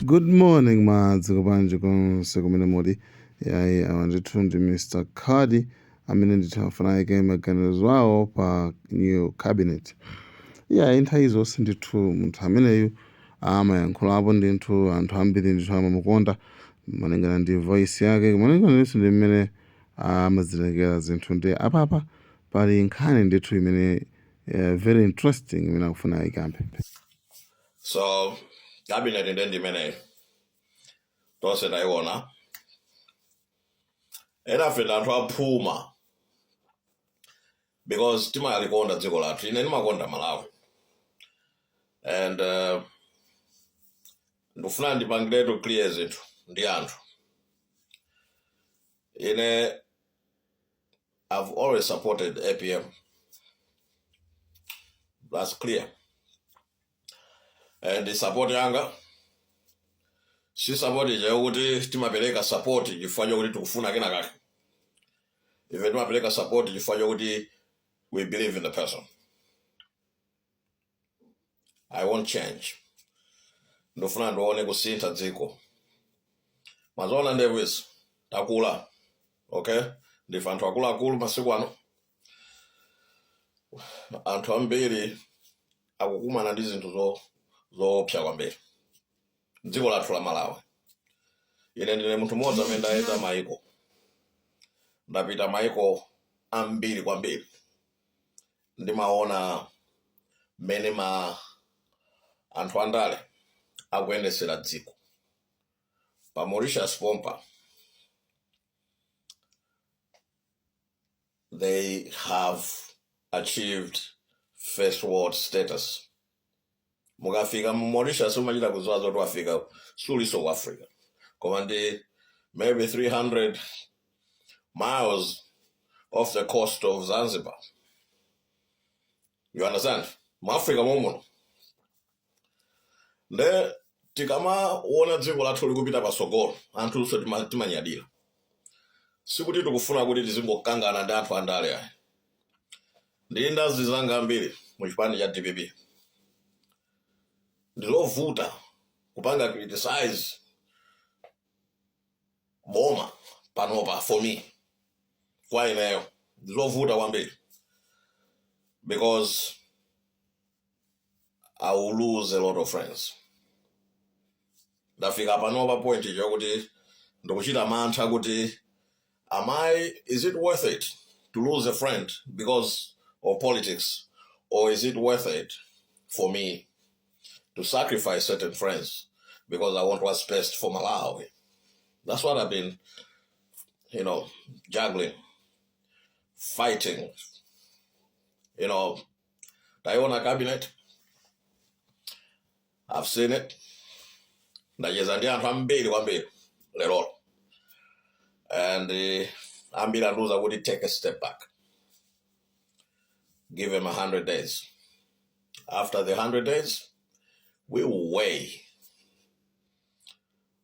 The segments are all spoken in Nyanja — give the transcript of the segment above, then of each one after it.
good morning mwadzuka bwanji konse kumene muli iyayi awa ndithu ndi mr cardi amene ndithu afuna ayike maganizo awo pa new cabinet iyayi nthawi zonse ndithu munthu ameneyu amayankhulapo ndithu anthu ambiri ndithu amamukonda malingana ndi voice yake malingana ndithu ndi mmene amazitengera zinthu ndi apapa pali nkhani ndithu imene Yeah, very interesting imene akufuna ayikambe. So cabinet nde ndi imeneyo tonse tayiona. Enafe ndi anthu aphuma because timalikonda dziko lathu. Ine ndimakonda Malawi and uh, ndikufuna ndipangiretu clear zinthu ndi anthu. Ine I've always supported APM. That's clear. And support yanga si support ija yokuti timapereka support chifukwa chokuti tikufuna kena kake. Ife timapereka support chifukwa chokuti we believe in the person. i want change ndifuna ndione kusintha dziko mwaziona nowadays takula okay ndife anthu akuluakulu masiku ano anthu ambiri akukumana ndi zinthu zo- zoopsa kwambiri dziko lathu la malawi ine ndine munthu mmodzi amene ndayenda maiko ndapita maiko ambiri kwambiri ndimaona mmene ma anthu andale akuyendetsera dziko pa Mauritius pompa they have achieved first world status mukafika mu Mauritius umachita kudziwa zoti wafika siuliso ku Africa koma ndi maybe 300 miles off the coast of Zanzibar you understand mu Africa momuno nde tikamaona dziko lathu likupita pasogolo anthunso timanyadira sikuti tikufuna kuti tizingokangana ndi anthu andale ayi ndili ndi anzanga ambiri mu chipani cha dpp ndizovuta kupanga criticize boma panopa for me kwa ineyo ndizovuta kwambiri because i will lose a lot of friends ndafika pano pa point yokuti ndikuchita mantha kuti am i is it worth it to lose a friend because of politics or is it worth it for me to sacrifice certain friends because i want what's best for malawi that's what i've been you know juggling fighting you know tayiona cabinet i've seen it ndacheza ndi anthu ambiri kwambiri lerolo and eh, ambiri andiuza kuti take a step back give him 100 days after the 100 days we will weigh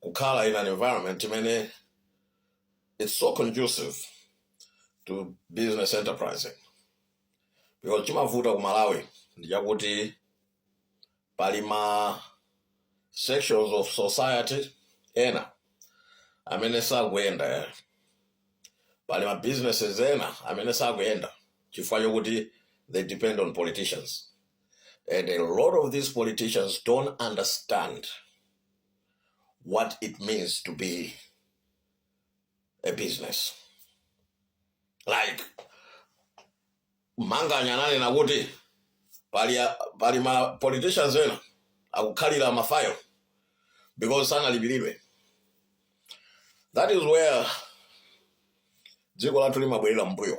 kukhala in an environment imene it's so conducive to business enterprising because chimavuta ku malawi ndi chakuti pali ma sections of society ena amene sakuyenda eh. pali ma businesses ena amene sakuyenda chifukwa chokuti they depend on politicians And a lot of these politicians don't understand what it means to be a business. Like Manganya ananena kuti pali ma politicians ena akukhalira mafayo because sanalipiridwe. That is where dziko lathu limabwerera mbuyo.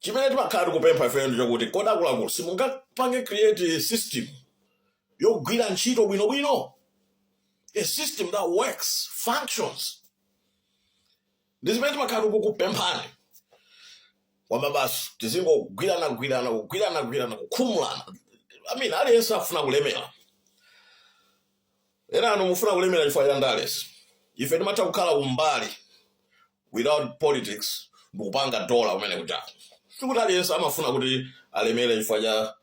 chimene timakhala tikupempha ifeyo ndi chakuti kodi akuluakulu simungapange create a system yogwira ntchito bwinobwino a system that works functions ndi zimene timakhala tikukupemphani kwaniba basi tizingogwirana gwirana kugwirana gwirana kukhumulana i mean aliyense afuna kulemera enanu mufuna kulemera chifukwa cha ndalezi ife timatha kukhala kumbali without politics ndikupanga dollar kumene kuja sikuti aliyense amafuna kuti alemere chifukwa cha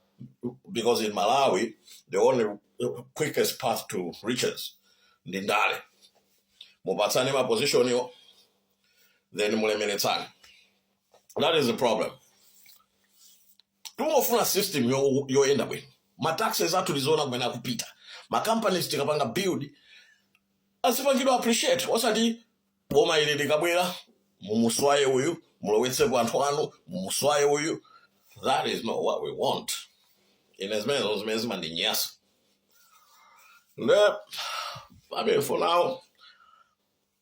because in malawi the only quickest path to riches ndi ndale mupatsane mapozishoniwo then mulemeretsane that is the problem timafuna system yo- yoyenda bwino mataxes athu tiziwona kumene akupita macompanies tikapanga build azipangidwa appreciate osati Boma ili likabwera mumuswaye uyu mulowetsepo anthu anu mumuswaye uyu that is not what we want ine zimenezo zimene zimandinyansa nde pamene for now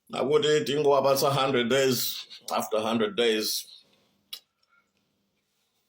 nakuti tingowapatsa 100 days after 100 days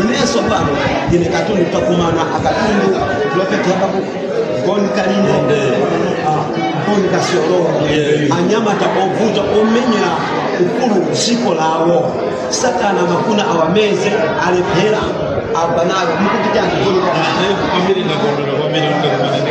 inenso pano ndine katundu takumana akatundu loketi apapo Bon Kalindo ah, goni kasiolowa Yeah. anyamata ovuta omenyera ufulu dziko lawo satana amafuna awameze alephera abwanawo mukuti chani Bon Kalindo kwambiri ndakondwera kwambiri kuti takumana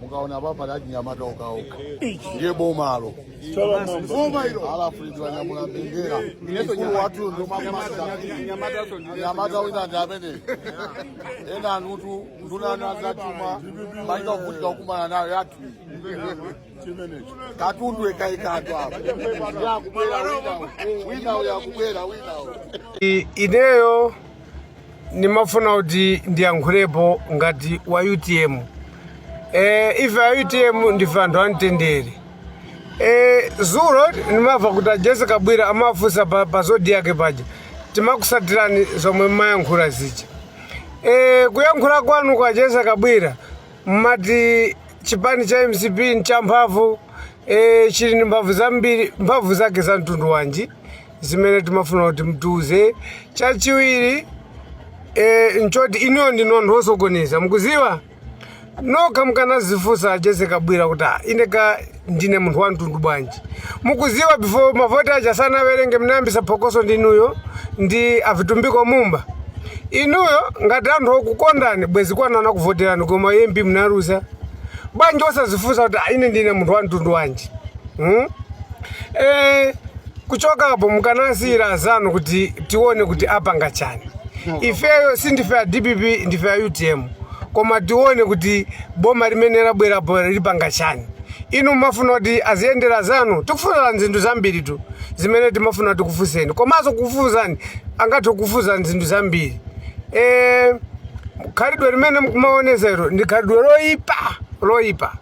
mukaona apa pali anyamata okaoka ndiye bomalo boma ilo alafulidwa nyamula mbendera mkulu wathu ndomamanyamata wina ndi amene ena anuwo ndunanu azachuma maika kuvutika kukumana nayo yathu katundu ekaikatu apa yakubwera wina wina uyo akubwera wina uyo I- ineyo Ndimafuna kuti ndiyankhulepo ngati wa utm ee ife a utm ndife anthu amtendere ee zulo ndimava kuti ajese kabwira amafunsa pa, pa zodiak paja timakusatirani zomwe mmayankhula zija ee kuyankhula kwanu a jese kabwira mmati chipani cha mcp nchamphamvu ee chili ndi mphamvu zambiri mphamvu zake za mtundu wanji zimene timafuna kuti mtiuze chachiwiri e, nchoti inuyo ndinu anthu osokoneza mukuziwa nokha mukanazifunsa jese kabwira kuti "Ah, ine ka ndine munthu wa mtundu wanji mukuziwa before mavoti aja sanawerenge mnayambisa phokoso ndinuyo ndi avitumbiko mumba inuyo ngati anthu okukondani bwezi kwanu anakuvoterani koma mp mnaluza bwanji osazifunsa kuti "Ah, ine ndine munthu wa mtundu wanji hmm? eh, Kuchoka apo mukanasiyira azanu kuti tione kuti apanga chani. Ifeyo sindife a dpp ndife a utm koma tione kuti boma limene labwerapo lipanga chani. Inu mmafuna kuti aziyendera zanu? Tikufunsani zinthu zambiritu zimene timafuna tikufunseni komanso kukufunsani angathe kukufunsani zinthu zambiri. Eee. khalidwe limene mukumaoneza ilo ndi khalidwe loyipa loyipa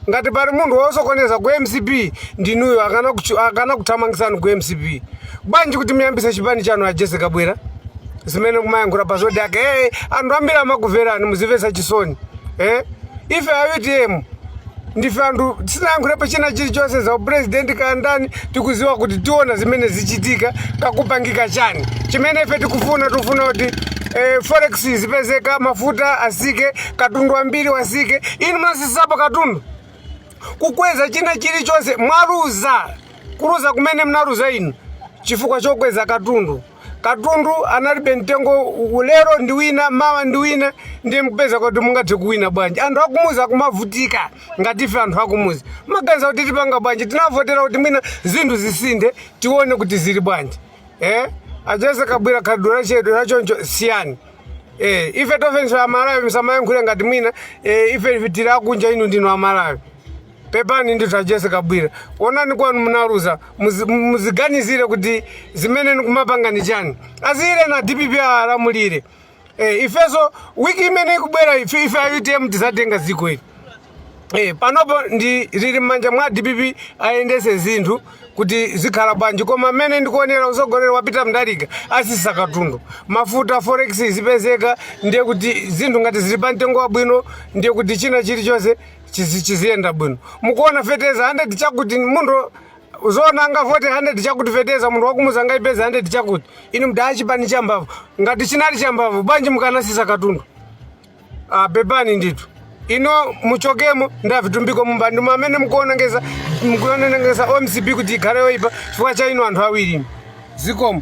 ngati pali munthu wosokoneza ku mcp ndinuyo akanakuchu- akanakuthamangisani ku mcp bwanji kuti muyambise chipani chanu a jese kabwira zimene mumayankhula pa zodiac hey, anthu ambiri amakuverani muzimvera chisoni eh? ife a utm ndife anthu sitinayankhulepo china chilichonse za upresident kaya ndani tikuziwa kuti tiona zimene zichitika kukupangika chani chimene ife tikufuna tikufuna kuti eh, forex zipezeka mafuta asike katundu wambiri asike inu munasisapo katundu kukweza china chilichonse mwaluza kuluza kumene mnaluza inu chifukwa chokweza katundu Katundu analibe mtengo u- lero ndi wina mawa ndi wina ndiye mkupeza kuti mungathe kuwina bwanji anthu akumuzi akumavutika ngati ife anthu akumuzi maganiza kuti tipanga bwanji tinavotera kuti mwina zinthu zisinthe tione kuti zili bwanji eh? ajese kabwira khalidwe lanu lachoncho siyani eh, ife ndifenso amalawi msamayankhule ngati mwina eh, ife tili akunja inu ndinu amalawi Pepani ndithu a Jessie Kabwira, onani kwanu munaluza, muzi- muziganizire kuti zimene nkumapanga ni chani. Asiyireni a DPP alamulire. Eh, ifeso wiki imene ikubwera ife ife a UTM tizatenga dziko ili. Eh, panopo ndi lili m'manja mwa DPP ayendese zinthu kuti zikhala bwanji koma mmene ndikuonera usogoleri wa Peter Mutharika asisa katundu mafuta forex zipezeka ndiye kuti zinthu ngati zili pa mtengo wabwino ndiye kuti china chilichonse chizi chiziyenda bwino mukuona feteza 100 chakuti munthu muzoona angavote 100 chakuti feteza munthu wakumudzi angaipeze 100 chakuti inu munali a chipani cha mbavu ngati chinali cha mbavu bwanji simunasise katundu ah, pepani ndithu inu muchokemo ndi a Vitumbiko Mumba ndi amene mukuonongesa mukuonongesa MCP kuti ikhale yoipa chifukwa cha inu anthu awiri inu. zikomo